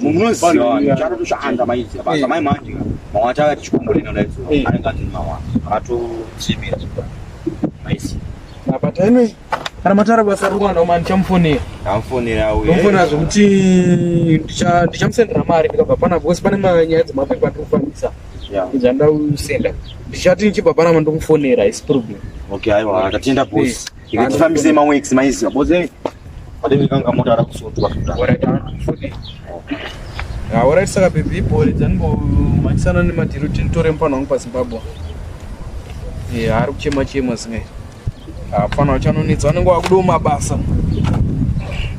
munozivaanotoshanda maidzi basa mai manje mawata akati chikomborena daidzo anenge ati mawa akatosimira maisi apa tainoi kana matara basa rokwana uma ndichamufonera amufonera amufonera zvekuti ndichamusendera mari ndikabva pana because pane manyaya dzemapepa ndiri kufambisa zvandausenda ndichati ndichibva panama ndomufonera isi problem okay aiwa tatenda bosi Tifambise mamwe ex maiziva boze padenge kanga mota ara kusundwa haorai saka bhebhi ibhore dzanimbomanisana nemadhiro kuti nditore mupano wangu pazimbabwe haari kuchema chema zingai hapana uchanonetsa vanenge wakudiwo mabasa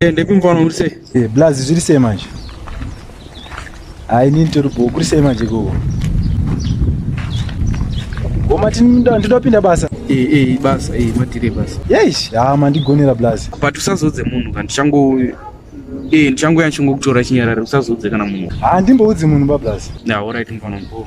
Eh, ndekumvana uri sei eh, blaz zviri sei manje hayi nini tori bho kuri sei manje koko gomati ndidapinda basa eh, basa matire basa yeish ha mandigonera blaz but usazodze munhu ka ndichango ndichangoya ndichangokutora chinyarari usazodze kana munhu ha ndimboudzi munhu bablaz na orit mfana mkoo